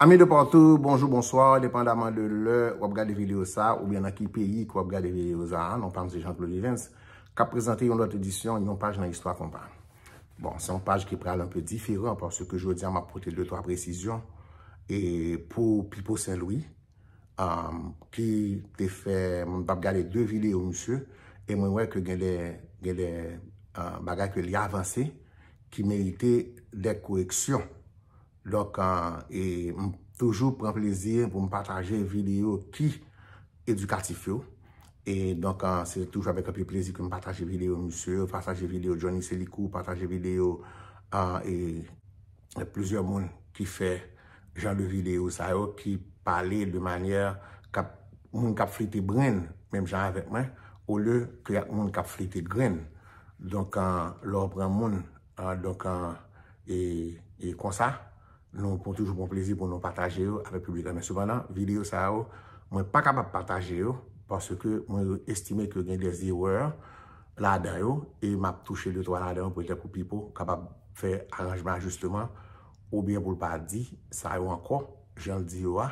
Amis de partout, bonjour, bonsoir, depandamment de lè wap gade video sa ou byen nan ki peyi ke wap gade video sa, non pa m se Jean Claude Vivens kap prezante yon lòt edisyon yon paj nan istwa konpa. Bon, se yon paj ki pral anpe diferan paske jodi a map pote 2 3 presizyon e pou Pipo Sen Lwi ki te fè, m tap gade 2 video misye e mwen wè ke gen de gen de bagay ke li avanse ki merite de koreksyon. Donk e m toujou pran plezi pou m pataje videyo ki edikatif yo. E donk se toujou avèk anpil plezi ke m pataje videyo misye yo, pataje videyo Johnny Selikou, pataje videyo e plizyè moun ki fè jan de videyo sa yo ki pale de manyè kap moun kap flite brenn menm jan avèk mwen olye ke ak moun kap flite grenn. Donk lè w pran moun. An donk an e konsa nou pran toujou pran plezi pou nou pataje yo avèk piblik la men sepandan videyo sa yo mwen pa kapab pataje yo paske mwen estime ke gen des erreurs ladan yo e m ap touche de twa ladan yo petèt pou Pipo kapab fè aranjman ajisteman oubyen pou l pa di sa yo ankò jan l di yo a.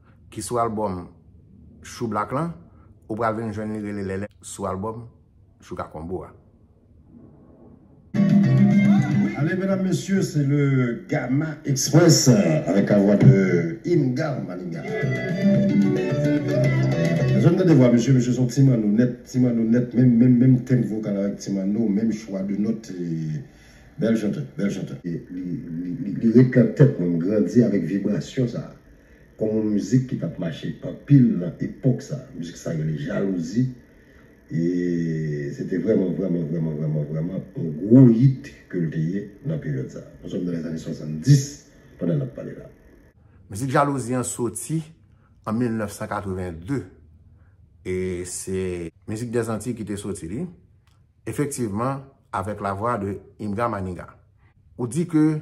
ki sou albòm Chou Black lan, ou pral vin jwenn li rele Lèlè sou albòm Chouka Combo a. Allez mesdames messieurs c'est le Gama Express avec la voix de Ingar Maniga. Janm tande vwa misye, misye son ti manno nèt, ti manno nèt menm menm menm tenb vokal avèk ti manno, menm chwa de nòt e bèl chantè, bèl chantè. Li ret lan tèt mwen, m grandi avèk vibrasyon sa. kòm yon mizik ki t ap mache anpil nan epòk sa. Mizik sa rele Jalouzi e se te vrèman vrèman vrèman vrèman vrèman yon gwo yit ke l te ye nan peryòd sa. Nou sòm nan lèzane 70 pandan n ap pale la. Mizik Jalouzi an soti an 1982 e se Mizik dè Zantiy ki te soti li, efektivman avèk lavwa de Imga Maniga. Ou di ke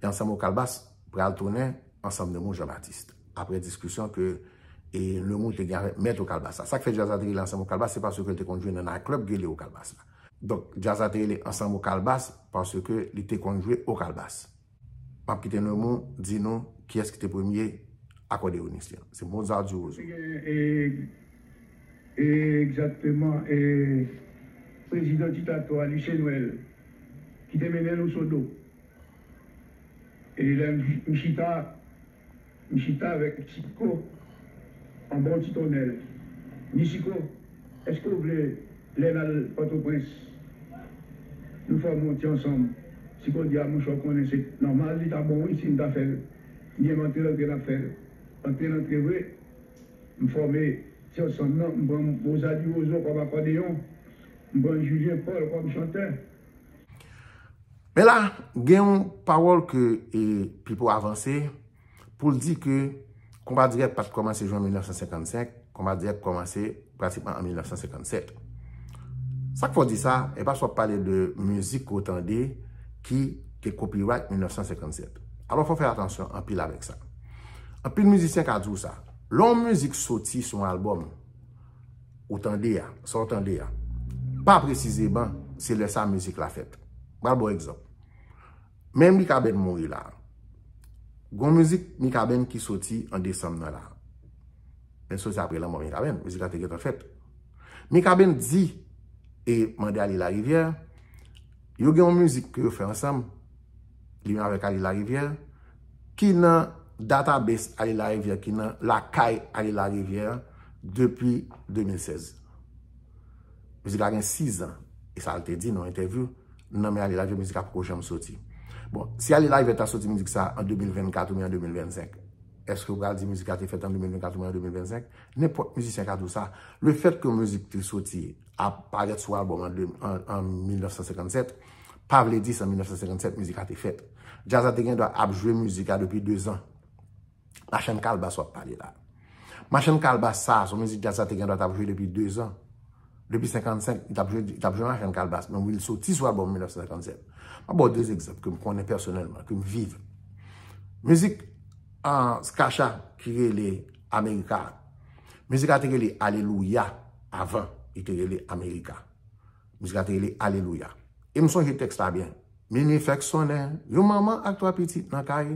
E ansanm o kalbas pral tounen ansanm nemou Jean Baptiste. Aprè diskisyon ke e nemou te gen avèk mèt o kalbas la. Sak fè djaz la te rele ansanm o kalbas se paske l te konn jwe nan night club ki rele o kalbas la. Donk djaz la te rele ansanm o kalbas paske li te konn jwe o kalbas. Map kite nemou di nou kiyès ki te premye akòdeyonis li. Se Mozart du Roseau. Te gen e egzakteman e prezidan diktatò a Lucien Noël. ki te mennen nou Sodo. E lè m chita, m chita avèk Chiko anba yon ti tonnèl. M di Chiko, èske w vle lè n al Pòtoprens, nou fòme yon ti ansanm? Chiko di, a monchè w konnen se nòmal, li ta bon wi si n ta fè l. M di, enben antre lantre n ap fè l. Antre lantre vre, m fòme ti ansanm nan, m pran Rosa di Rozo kòm akòdeyon. M pran Julien Paul kòm chantè. Men la, gen yon pawòl ke Pipo avanse pou l di ke konba dirèk pa t kòmanse jan 1955, konba dirèk kòmanse pratikman an 1957. Sa k fè w di sa? E paske w ap pale de mizik ke w tande ki te copyright 1957. Alò fò w fè atansyon anpil avèk sa. Anpil mizisyen ka di w sa. Lè yon mizik soti sou yon albòm. Ou tande a, sa w tande a. Pa presizeman, se lè sa mizik la fèt. M pral ba w egzanp. Men Mikaben mouri la. Gon mizik Mikaben ki soti an desanm nan la. Men soti apre lanmò Mikaben. Mizik la te gentan fèt. Mikaben di, e mande ale larivyè, yo gen yon mizik ke yo fè ansanm, Li menm avèk Aly Larivière ki nan database Aly Larivière ki nan lakay Aly Larivière depi 2016. Mizik la gen 6 an. E sa l te di nan entèvyou, nan men Aly Larivière mizik la poko janm soti. Bon, si Aly Larivière ta soti mizik sa an 2024 oubyen an 2025, èske ou pral di mizik la te fèt an 2024 oubyen an 2025? Nenpòt mizisyen ka di w sa. Lefètke mizik te soti, ap parèt sou albòm an 1957. pa vle di se an 1957 mizik la te fèt. Djaz la te gen dwa ap jwe mizik la depi 2 zan. Machann Kalbas w ap pale la. Machann Kalbas sa, son mizik djaz la te gen dwa tap jwe depi 2 zan. Depi 55, li tap jwe Machann Kalbas. Men wi li soti sou albòm 1957. Mwen ba w 2 egzanp ke m konnen pèsonèlman, ke m viv. Mizik Skasha ki rele Amerika. Mizik la te rele Alelouya avan li te rele Amerika. Mizik la te rele Alelouya. E m sonje tèks la byen. Minui fèk sonnen, yon manman ak twa pitit nan kay,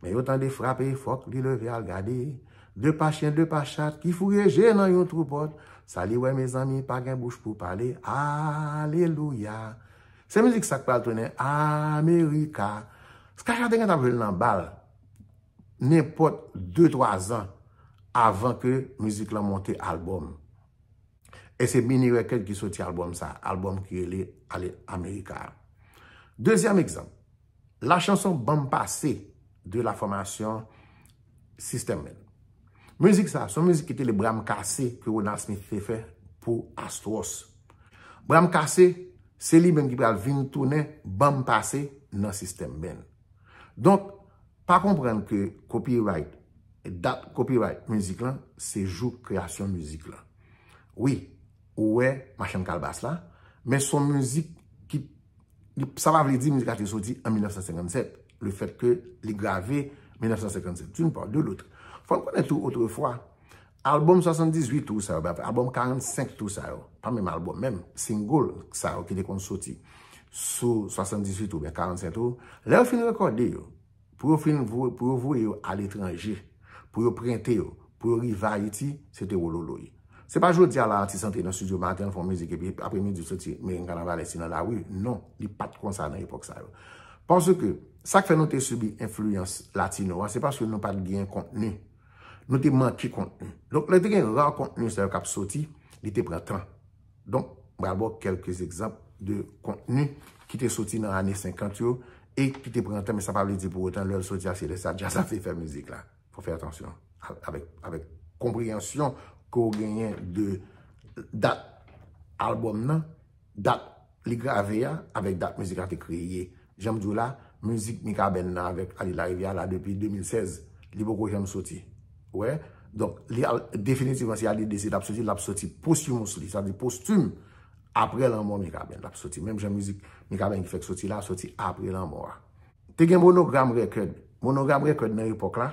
men yo tande frape, fòk li leve al gade. De pa chyen, de pa chat, ki fouye je nan yon twou pòt, sa li wè mezanmi, pa gen bouch pou pale, Alelouya! Se mizik sa k pral tounen Amerika. Skah-Shah te gentan ap jwe l nan bal, nenpòt de twa zan avan ke mizik lan monte albòm. E se Mini Record ki soti albòm sa, albòm ki rele Ale Amerika a. Dezyèm egzanp, la chanson Ban m Pase de la fòmasyon System Men. Mizik sa, son mizik ki te le Bra m Kase ke Ronald Smith te fè pou Astros. Bra m Kase, se li menm ki pral vin tounen Ban m Pase nan System Men. Donk, Pa konprann ke copyright, dat copyright mizik lan, se jou kreyasyon mizik lan. Wi, ou wè machann kalbas la, men son mizik ki, sa pa vle di mizik la te soti an 1957, le fèt ke li grave 1957, d'une part, de l'autre. Fò n konnen tou otrefwa, Album 78 tou sa yo, album 45 tou sa yo, pa menm album, menm single sa yo ki te konn soti sou 78 tou, oubyen 45 tou, lè yo fin rekòde yo, pou yo fin voye yo a letranje, pou yo prente yo, pou yo rive Ayiti, se te wololoy. Se pa jodi a la atis antre nan studio maten, l fè yon mizik epi apre midi l soti merengue kanavalès li nan lari, non, li pa t kon sa nan epòk sa yo. Paske, sa k fè nou te sibi enfliyans latino a, se paske nou pa t gen kontni. Nou te manke kontni. Donk, lè te gen rar kontni sa yo k ap soti, li te pran tan. Donk, m pral ba w kèlke egzanp de kontni ki te soti nan ane 50 yo e ki te pran tan men sa pa vle di pou otan lè l soti a se lè sa a djaz la te fè mizik la. Fò w fè atansyon avèk konpreyansyon ke w genyen de dat albòm nan. Dat li grave a avèk dat mizik la te kreye. Jan m di w la, mizik Mikaben nan avèk Aly Larivière la depi 2016, li poko janm soti. Ou wè? Donk, li al definitivman si Aly deside l ap soti, l ap soti posthumously, sa vle di postime, apre lanmò Mikaben l ap soti. Menm jan mizik Mikaben ki fèk soti la soti apre lanmò a. Te gen Monogram Record. Monogram Record nan epòk la,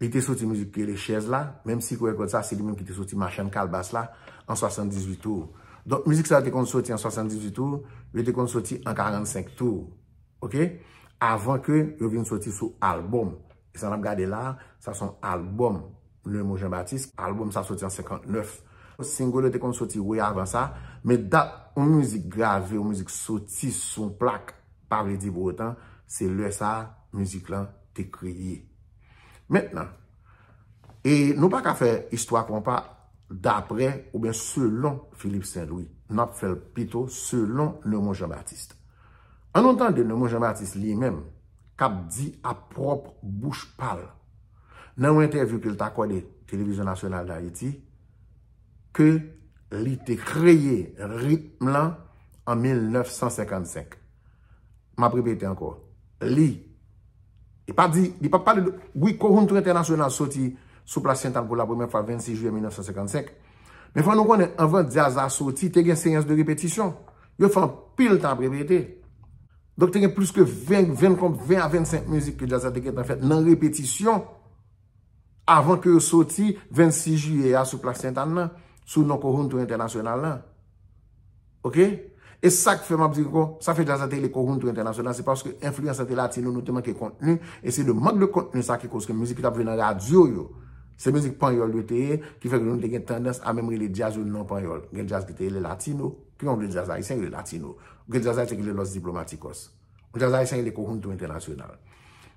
Li te soti mizik ki rele Chèz la, menm si Koyè Gòd sa se li menm ki te soti Machann Kalbas la an 78 tou. Donk mizik sa yo te konn soti an 78 tou, yo te konn soti an 45 tou. Ok? Avan ke yo vin soti sou albòm. E sa n ap gade la, sa son albòm Lemo Jan Batis. Albòm sa soti an 59. Single yo te konn soti way avan sa, men dat yon mizik grave, yon mizik soti sou yon plak, pa vle di pou otan, se lè sa mizik lan te kreye. Mentnan, e nou pa ka fè istwa konpa dapre oubyen selon Philippe Saint Louis, n ap fè l pito selon Neumond Jean Baptiste. An nou tande Neumond Jean Baptiste li menm k ap di a pwòp bouch pa l nan yon entèvyou ke l t akòde Télévision Nationale d'Haïti ke li te kreye ritm lan an 1955. M ap repete ankò. Li. Li pa di, li pa pale de, wi Kohountry Entènasyonal soti sou plas Syental pou lapremyè fwa 26 jiyè 1955. Men fò nou konnen, anvan djaz la soti, te gen seyans de repetisyon. Yo fè anpil tan ap repete. Donk te gen plis ke 20, 20 konp, 20 a 25 mizik ke djaz la te gentan fèt nan repetisyon. avan ke yo soti 26 jiyè a sou plas Sentane nan, sou non Kowhountou Entènasyonal lan. Ok? E sa k fè m ap di ankò, sa fè djaz la te rele Kowhountou Entènasyonal, se paske enfliyans lan te latino, nou te manke kontni, e se de mank de kontni sa ki koz ke mizik ki t ap jwe nan radyo yo, se mizik panyòl yo te ye, ki fè ke nou te gen tandans a menm rele djaz yo non panyòl. Gen djaz ki te rele latino, ki yon de djaz ayisyen ki rele latino. Gen djaz ayisyen ki rele Los Diplomáticos. Jazz Ayisyen rele Conjunto Internacional.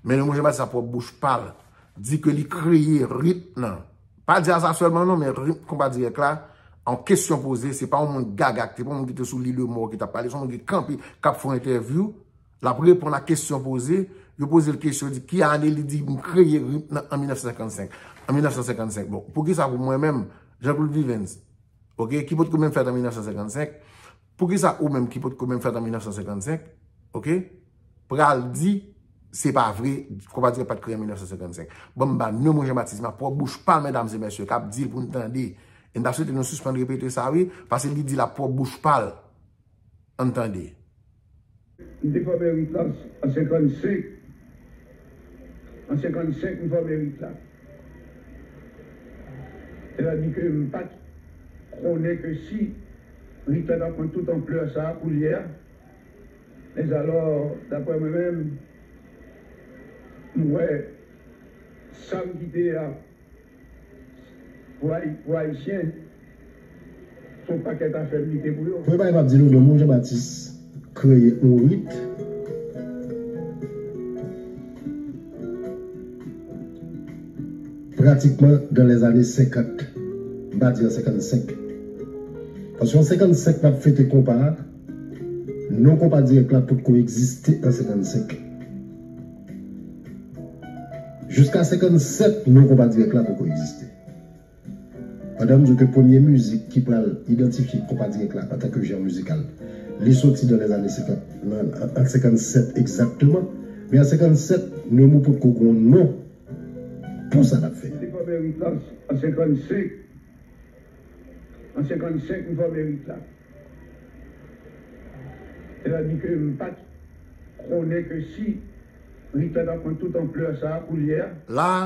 Men Raymond Jean Baptiste a pwòp bouch pa l di ke li kreye ritm nan. Pa jazz la sèlman non, men ritm konpa dirèk la, an kesyon poze, se pa yon moun gaga, se pa yon moun ki te sou lile mò ki t ap pale, se yon moun ki kanpe, k ap fè yon entèvyou, l ap reponn ak kesyon poze, yo poze l kesyon, di ki ane, li di m kreye ritm nan an 1955. An 1955, bon, pou ki sa pou mwen menm, Jean-Claude Vivens, ok, ki potko menm fèt an 1955, Poukisa ou menm ki potko menm fèt an 1955, ok, pral di se pa vre Kòmadre pat kreye an 1955? Banm ba non mwen Jean-Baptiste ma pwòp bouch pa mèdames et mèsyè kap dil pou n tande. E m ta swete nou sispann repete sa wi, pase li dil a pwòp bouch pa l. An n tande. M te fòme rit la an 55. An 55 m fòme rit la. Sètadi ke m pa t konnen ke si rit la t ap pran tout anplè sa a koulye a, mèzalò daprè mwen menm, m wè sa m kite a. Pou ayisyen son pakèt afè mnike pou yo. Mwen pa kapab di nou non mwen Jean Baptiste kreye yon rit pratikman dan lè zane 50 m pa di an 55 paske an 55 nap fete konpa a non konpa dirèk la potko egziste an 55. Jiska 57 non konpa dirèk la poko egziste. Pandan m di w ke premye mizik ki pral idantifye konpa dirèk la antan ke jan mizikal li soti nan lèzane 50 nan an 57 egzakteman men an 57 Nemou potko gen yon non pou sa l ap fè. Li fòme Ritans an 55. An 55 m fòme rit la. Sètadi ke m pa t konnen ke si rit la t ap pran tout anplè sa a koulye a. La a,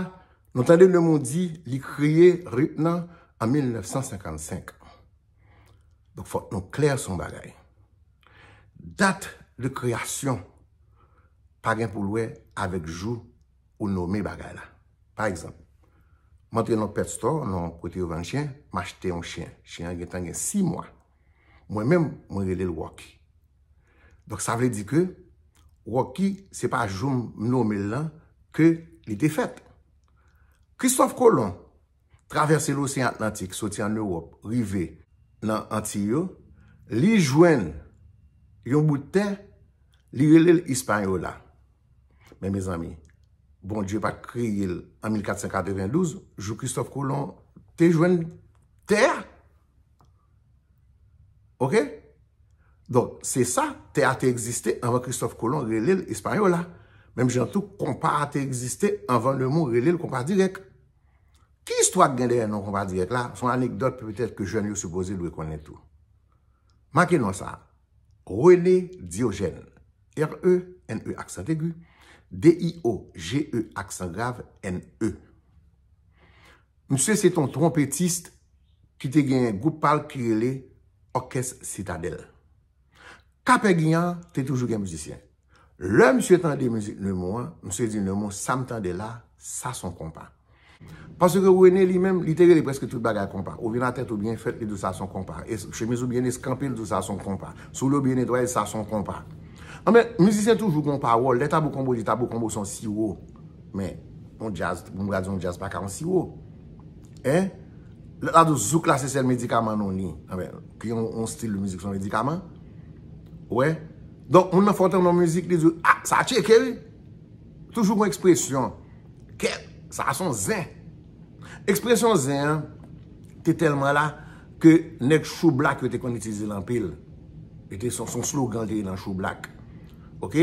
nou tande le mou di li kreye rit nan an 1955. Donk fòk nou klè sou yon bagay. Dat de kreyasyon pa gen pou l wè avèk jou. ou nome bagay la. Pa egzanp, m antre nan yon pet store, nan yon kote yo vann chen, m achte yon chen. Chen an gentan gen 6 mwa. Mwen menm, mwen rele l Rocky. Donk sa vle di ke Rocky se pa jou m nome l lan ke li te fèt. Christophe Colomb travèse loseyan Atlantik soti ann Ewòp rive nan Antiy yo, li jwenn yon bout tè, li rele l Ispanyola. Men mezanmi, Bondye pa t kreye l an 1492, jou Kristòf Kolon te jwenn tè a. Ok? Donk, se sa, tè a te egziste anvan Kristòf Kolon rele l Ispanyola. Menm jan tou, konpa a te egziste anvan lemon rele l konpa dirèk. Ki istwa ki gen dèyè non konpa dirèk la? Son anekdòt petèt ke jèn yo sipoze dwe konnen tou. Make non sa a, René Diogène, RENE accent aigu, DIOGE accent grave, NE. Misye se ton twonpetist ki te gen gwoup pa l ki rele Òkès Sitadèl. Kapègin an te toujou gen mizisyen. Lè misye tande mizik Nemou an, misye di Nemou sa m tande la, sa son konpa. Pase ke René li menm, li te rele preske tout bagay konpa. Ou vin a tèt ou byen fèt, li di w sa son konpa. Chemiz ou byen eskanpe, li di w sa son konpa. Soulye w byen netwaye, sa son konpa. Anben, mizisyen toujou gen yon pawòl. Lè Tabou Combo di Tabou Combo se yon siwo. Men, yon djaz, m pral di w yon djaz pa ka yon siwo. Hein? Lè la di w zouk la se sèl medikaman non li. Anben, ki yon stil mizik son medikaman. Ou wè? Donk moun nan fè w tande yon mizik li di w ah sa tcheke wi. Toujou gon ekspresyon kèt sa son zen. Ekspresyon zen an te tèlman la ke nèg choublak yo te konn itilize l anpil. Li te son slogan li te ye nan choublak. Ok,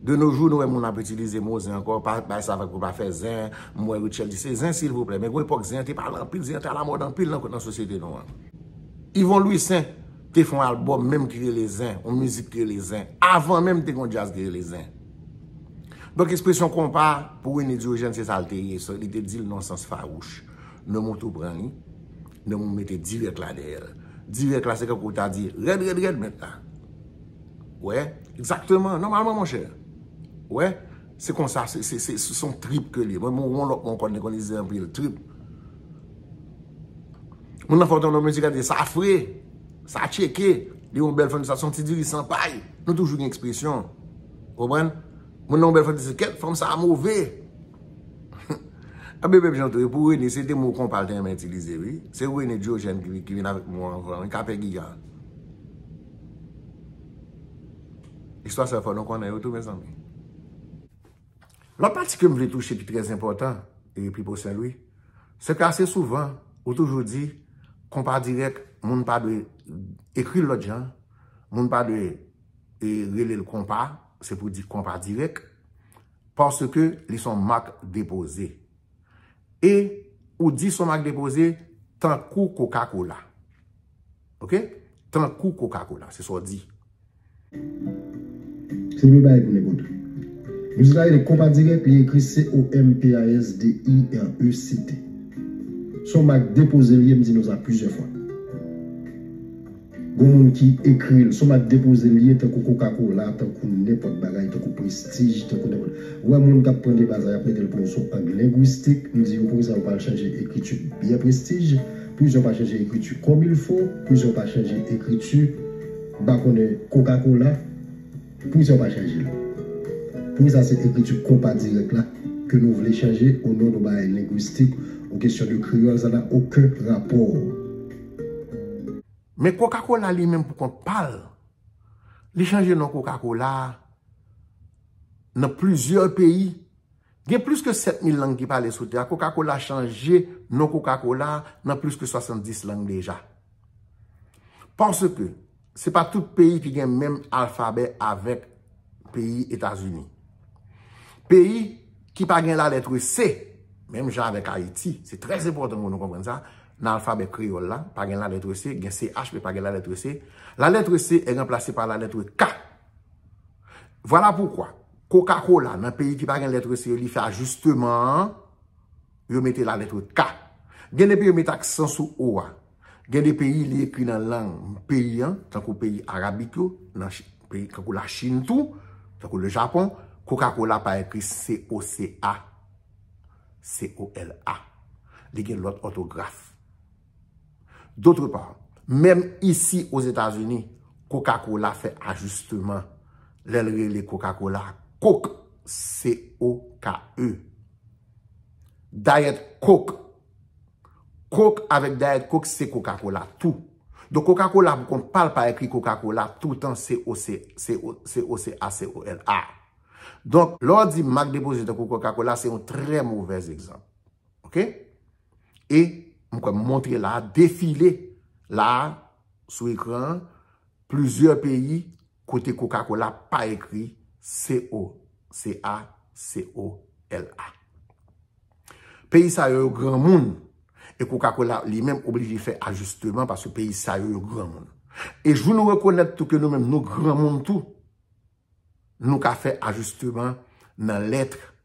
de no jou nou wè moun ap itilize mo zen ankò pa bay sa vag pou pa fè zen. M wè Rutshelle di se zen silvouplè men gon epòk zen an te pale anpil zen an te alamòd anpil nan sosyete nou an. Yvon Louissaint. te fon album menm ki rele zen, yon mizik ki rele zen. Avan menm te kon jazz ki rele zen. Donk espresyon konpa pou Rene Diogène se sa l te ye. Li te di l non sans fawouch. Non moun tou pran li. Non moun mete dirèk la dèyè l. Dirèk la se tankou w ta di rèd rèd rèd mèt la. Ou wè? Egzakteman. Nòmalman monchè. Ou wè? Se konsa, se son trip ke li ye. Mwen menm won lòt mwen konn li konn ize anpil. Trip. Moun nan fè yon tandon mizik a di sa fre, sa tcheke, li yon bèl fann sa son ti diri san pay. Nou toujou gen ekspresyon. Konprann? Moun nan yon bèl fann di se kèt fanm sa move. An bebe bjan tou e pou Rene se te mo konpa l te renmen itilize wi. Se Rene Diogène ki vin avèk mo anvan wi kapè giga. Istwa sa fò nou konnen yo tou mezanmi. Lòt pati ke m vle touche ki trè enpòtan e Pipo Senlwi, se ke ase souvan ou toujou di konpa dirèk moun pa dwe ekri l lòt jan, moun pa dwe rele l konpa, se pou di konpa dirèk, paske li son mak depoze. E ou di son mak depoze tankou kokakola. Ok? Tankou kokakola, se sa w di. Se premye bagay pou nèg Odri. Mizik la rele Konpa Dirèk, li ekri C-O-M-P-A-S-D-I-R-E-C-T. Se yon mak depoze li ye, m di nou sa plizyè fwa. Gon moun ki ekri l, se yon mak depoze li ye tankou kokakola, tankou nenpòt bagay, tankou prestij, tankou nenpòt. Ou wè moun k ap pran deba sa y ap mete l pou yon sou ang lengwistik, m di yo poukisa yo pa al chanje ekriti byen prestij, poukisa yo pa chanje ekriti kòmilfo, poukisa yo pa chanje ekriti. M pa konnen koka kola poukisa ou pa chanje l. Pouki sa se ekriti konpa dirèk la ke nou vle chanje o non don bagay lengwistik ou kesyon de kreyòl sa na oken rapò. Men koka kola li menm pou kont pa l, li chanje non koka kola a nan plizyè peyi. Gen plis ke 7 mil lang ki pale sou tè a. Kokakola chanje non kokakola nan plis ke 70 lang deja. Paske, se pa tout peyi ki gen menm alfabè avèk peyi Etazini. Peyi ki pa gen la letre se, menm jan avèk Ayiti, se trè zepòtan pou nou konprann sa, nan alfabè kreyòl la, pa gen la letre se, gen CH, men pa gen la letre se. La letre se e ranplase pa la letre K. Vwala poukwa. Koka kola nan peyi ki pa gen letre C yo li fè ajisteman an, yo mete la letre K. Gen de peyi yo mete aksan sou O a. Gen de peyi li ekri nan lang peyi an, tankou peyi Arabik yo, nan peyi kankou la Chin tou, tankou le Japon, koka kola pa ekri COCA, COLA. Li gen lòt òtograf. D'autre part, menm isi Ozetazini, Coca-Cola fè ajisteman lè l rele Coca-Cola Coke, C-O-K-E. Diet Coke, Coke avèk Diet Coke se Coca-Cola tou. Donk Coca-Cola pou kont pa l pa ekri Coca-Cola toutan C-O-C-A-C-O-L-A. Donk, lè w di mak depoze tankou Coca-Cola se yon trè movèz egzanp. Ok? E m kwè m montre la a defile la a sou ekran an plizyè peyi kote kokakola pa ekri CO, CA, COLA. Peyi sa yo yo granmoun e kokakola li menm oblije fè ajisteman paske peyi sa yo yo granmoun. E jou nou rekonèt tou ke nou menm nou granmoun tou nou ka fè ajisteman nan lètre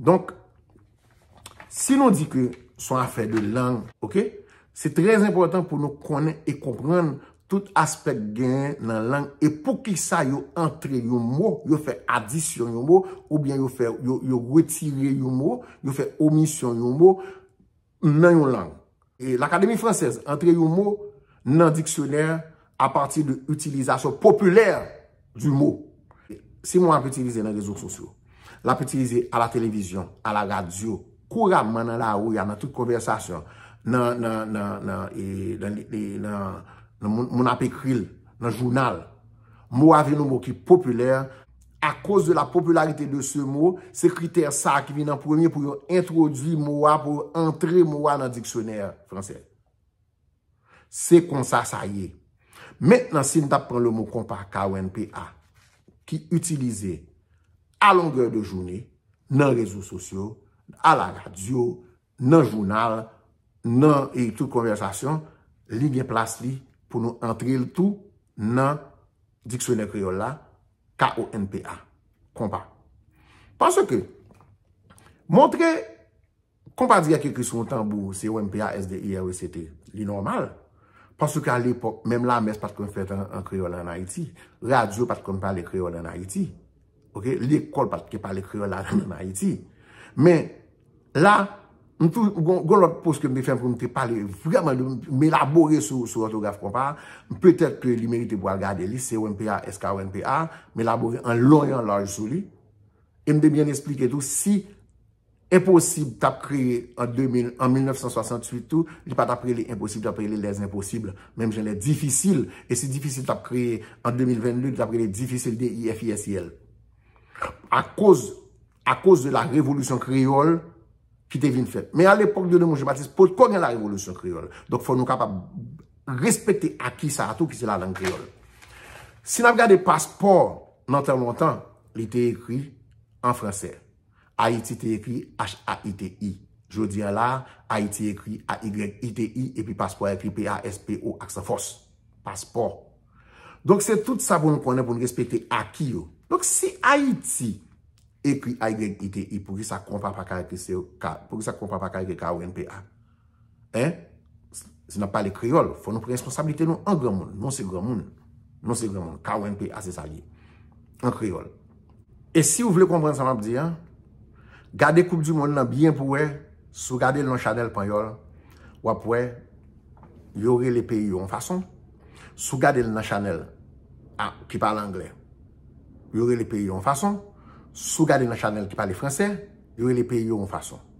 Donk, si nou di ke son afè de lang, ok, se trè enpòtan pou nou konnen e konprann tout aspèk genyen nan lang e pou ki sa yo antre yon mo, yo fè adisyon yon mo, oubyen yo fè, yo retire yon mo, yo fè omisyon yon mo. nan yon lang. L'Académie française antre yon mo nan diksyonè a pati de itilizasyon popilè du mo. Simon ap itilize nan rezo sosyo, l'ap itilize a la televizyon, a la radyo, kouramman nan lari a, nan tout konvèsasyon, moun ap ekri l, nan jounal. Mo a vin yon mo ki popilè. A koz de la popularite de se mo, se kritè sa a ki vin an premye pou yo entwodui mo a, pou yo antre mo a nan diksyonè franse. Se konsa sa ye. Mentnan, si n t ap pran le mo konpa, KONPA, ki itilize a longè de joune nan rezo sosyo, a la radyo, nan jounal, nan e tout konvèsasyon, li gen plas li pou nou antre l tou nan diksyonè kreyòl la, KONPA, konpa. Paske, montre konpa di ak ekri sou yon tanbou, CONPA, SDIR, ECT, li nòmal. Paske a lepòk, menm lamès pa t konn fèt an kreyòl an Ayiti. Radyo pa t konn pale kreyòl an Ayiti. Ok, lekòl pat gen pale kreyòl la menm an Ayiti. Men, la, m tou, gon lòt pos ke m te fè pou m te pale vreman, m elabore sou òtograf konpa, petèt ke li merite pou al gade li, COMPA, SKOMPA, m elabore an long e an laj sou li. E m te byen esplike tou si Enposib tap kreye an 2000, an 1968 tou, li pa tap rele enposib, li tap rele les impossibles, menm jan les difficiles, e si difisil tap kreye an 2022, li tap rele difisil, D-I-F-I-S-I-L. A koz, a koz de la revolisyon kreyòl ki te vin fèt. Men a lepòk de Raymond Jean Baptiste, potko gen la revolisyon kreyòl. Donk fò nou kapab respekte aki sa a tou ki se la lang kreyòl. Si n ap gade paspò nan tan lontan, li te ekri an fransè. Ayiti te ekri h-a-i-t-i. Jodi an la a, Ayiti ekri a-y-i-t-i epi paspò a ekri p-a-s-p-o aksan fòs. Paspò. Donk se tout sa pou nou konnen pou nou respekte aki yo. Donk si Ayiti ekri a-y-i-t-i, poukisa konpa pa ka ekri k-a-w-e-n-p-a? Hein? Si nap pale kreyol, fo nou pran responsabilite nou an granmoun. Nou se granmoun. Nou se granmoun. KONPA se sa li ye. An kreyol. E si ou vle konpran sa map di an, gade koup di moun nan byen pou wè, si ou gade l nan chanel panyol, wap wè yo rele peyi yo yon fason, si ou gade l nan chanel a ki pale angle, yo rele peyi yo yon fason, si ou gade l nan chanel ki pale franse, yo rele peyi yo yon fason.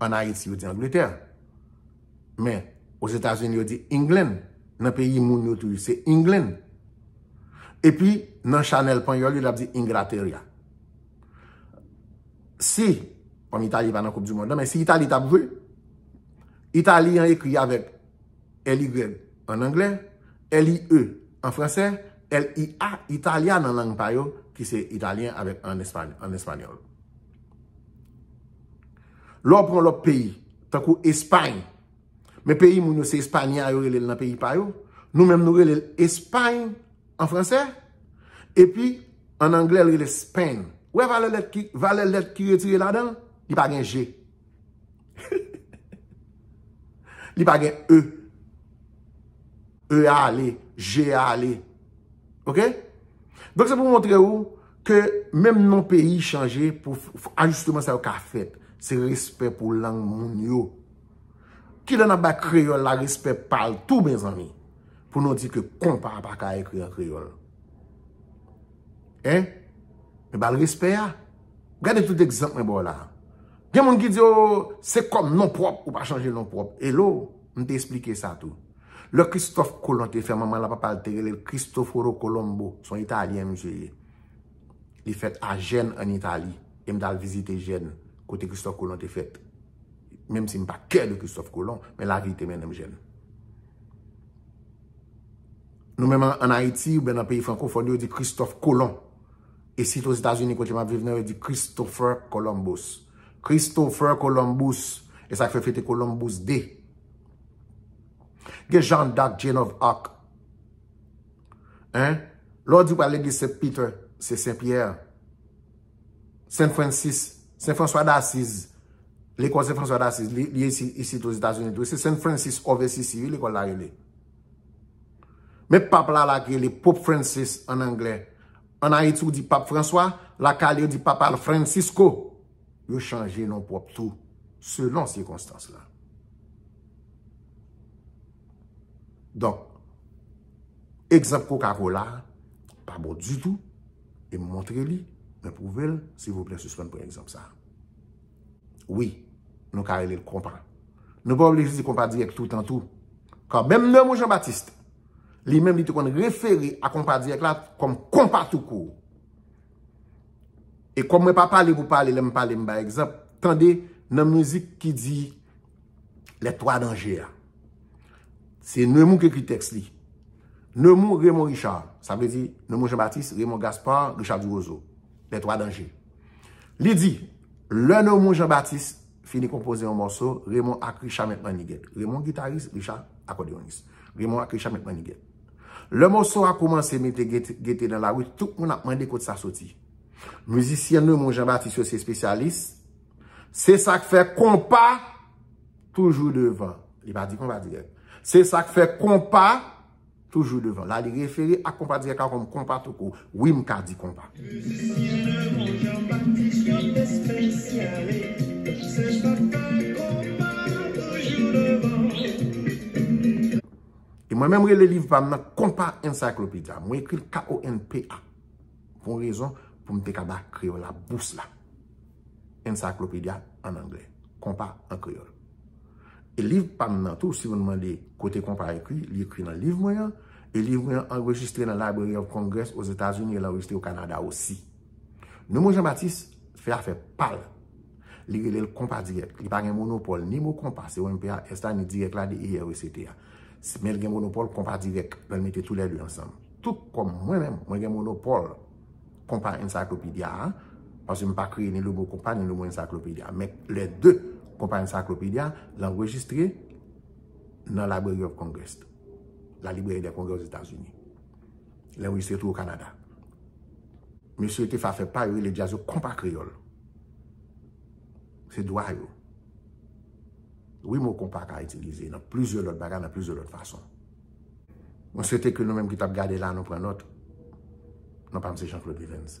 An Ayiti yo di Angletè. Men, Ozetazini yo di England. Nan peyi moun yo tou, se England. E pi, nan chanèl panyòl yo, l ap di Ingrateria. Si, kòm Itali pa nan koup di mond lan, men si Itali t ap jwe, Itali an ekri avèk LY an anglè, LIE an fransè, LIA, Italia nan lang pa yo, ki se Italyen avèk an espanyòl. Lè w pran lòt peyi, tankou Espay, men peyi moun yo se Espanya yo rele l nan peyi pa yo, nou menm nou rele l Espay an fransè, epi an anglè l rele Spain. Ou wè valè lèt ki, valè lèt ki retire ladan l? Li pa gen je. Li pa gen e. E a ale, je a ale. Ok? Donk se pou montre ou ke menm non peyi chanje pou ajisteman sa yo ka fèt. Se respè pou lang moun yo. Ki lè nan bay kreyòl la respè pa l tou mezanmi? Pou nou di ke konpa pa ka ekri an kreyòl. Hein? Men ba l respè a. Gade tout egzanp mwen ba w la. Gen moun ki di yo se kòm non pwòp ou pa chanje non pwòp. Hello? M te esplike sa tou. Lè Kristòf Kolon te fè manman l ak papa l te rele l Kristoforo Kolombo, s on Italyen misye ye. Li fèt a Jèn ann Itali. E m t al vizite Jèn, kote Kristòf Kolon te fèt. Menm si m pa kè de Kristòf Kolon, men lavi te mennen m Jèn. Nou menm ann Ayiti oubyen nan peyi frankofòn yo, yo di Kristòf Kolon. Isit Ozetazini kote m ap viv nan, yo di Christopher Columbus. Christopher Columbus. E sa k fè fete Columbus Day. Gen Jeanne d'Arc, Jane of Arc. Hein? Lè w di w pral legliz Saint Peter, se Saint Pierre. Saint Francis, Saint François d'Assise. Lekòl Saint François d'Assise, li ye isit o Zetazini tou. Se Saint Francis of Assisi wi lekòl la rele. Men pap la la ki rele Pope Francis an anglè. An Ayiti ou di Pap François, lakay li yo di Papa Francisco. yo chanje non pwòp tou selon sikonstans la. Donk, egzanp kokakola a pa bon ditou, e m montre li, mwen pwouve l, silvouplè sispann pran egzanp sa a. Wi, nou ka rele l konpa. Nou pa oblije di konpa dirèk toutan tou. Kan menm Neumou Jean-Baptiste, li menm li te konn refere a konpa dirèk la kòm konpa toukou. E kòm mwen pa pale pou pale lè m pale m bay egzanp, tande nan mizik ki di Les Trois Dangers a. Se Nemou ki ekri tèks li. Nemou Raymond Richard. Sa vle di Nemou Jean Baptiste, Raymond Gaspard, Richard Duroseau. Les Trois Dangers. Li di, lè Nemou Jean Baptiste fini konpoze yon mòso, Raymond ak Richard mèt mannigèt. Raymond gitaris, Richard akòdeyonis. Raymond ak Richard mèt mannigèt. Lè mòso a koumanse mete gete nan lari, tout moun ap mande kot sa soti. Mizisyen Neumond Jean Baptiste yo se espesyalis. Se sa k fè konpa toujou devan. Li pa di konpa dirèk. Se sa k fè konpa toujou devan. La li refere ak konpa dirèk la kòm konpa tou kou. Wi m ka di konpa. Mizisyen Neumond Jean Baptiste yo espesyalis. Se sa k fè konpa toujou devan. E mwen menm rele liv pa m nan Konpa Encyclopedia. Mwen ekri l K-O-N-P-A. Pou yon rezon, pou m te ka ba kreyòl la bous la. Encyclopedia an anglè. Konpa an kreyòl. E liv pa m nan tou, si moun mande kote konpa ekri, li ekri nan liv mwen an. E liv mwen an anrejistre nan Library of Congress o Zetazini e l anrejistre o Kanada osi. Nomon Janbatis fè afè pa l. Li rele l Konpa Dirèk. Li pa gen monopòl ni mo konpa, C-O-M-P-A-S la, ni dirèk la, D-I-R-E-C-T a. Smil gen monopòl konpa dirèk lè l mete tou lè de ansanm. Tou kòm mwen menm, mwen gen monopòl konpa ensaklopidya a, paske m pa kreye ni logo konpa ni logo ensaklopidya. Men lè de konpa ensaklopidya l anrejistre nan Library of Congress, La Libreri dè Kongrè Ozetazini. L anrejistre tou o Kanada. Mesye yo te fè afè pa yo, yo rele djaz yo konpa kreyòl. Se dwa yo. Wi mo konpa ka itilize nan plizyè lòt bagay, nan plizyè lòt fason. Mwen swete ke nou menm ki t ap gade la nou pran nòt. Non pa m se Jean Claude Livenz.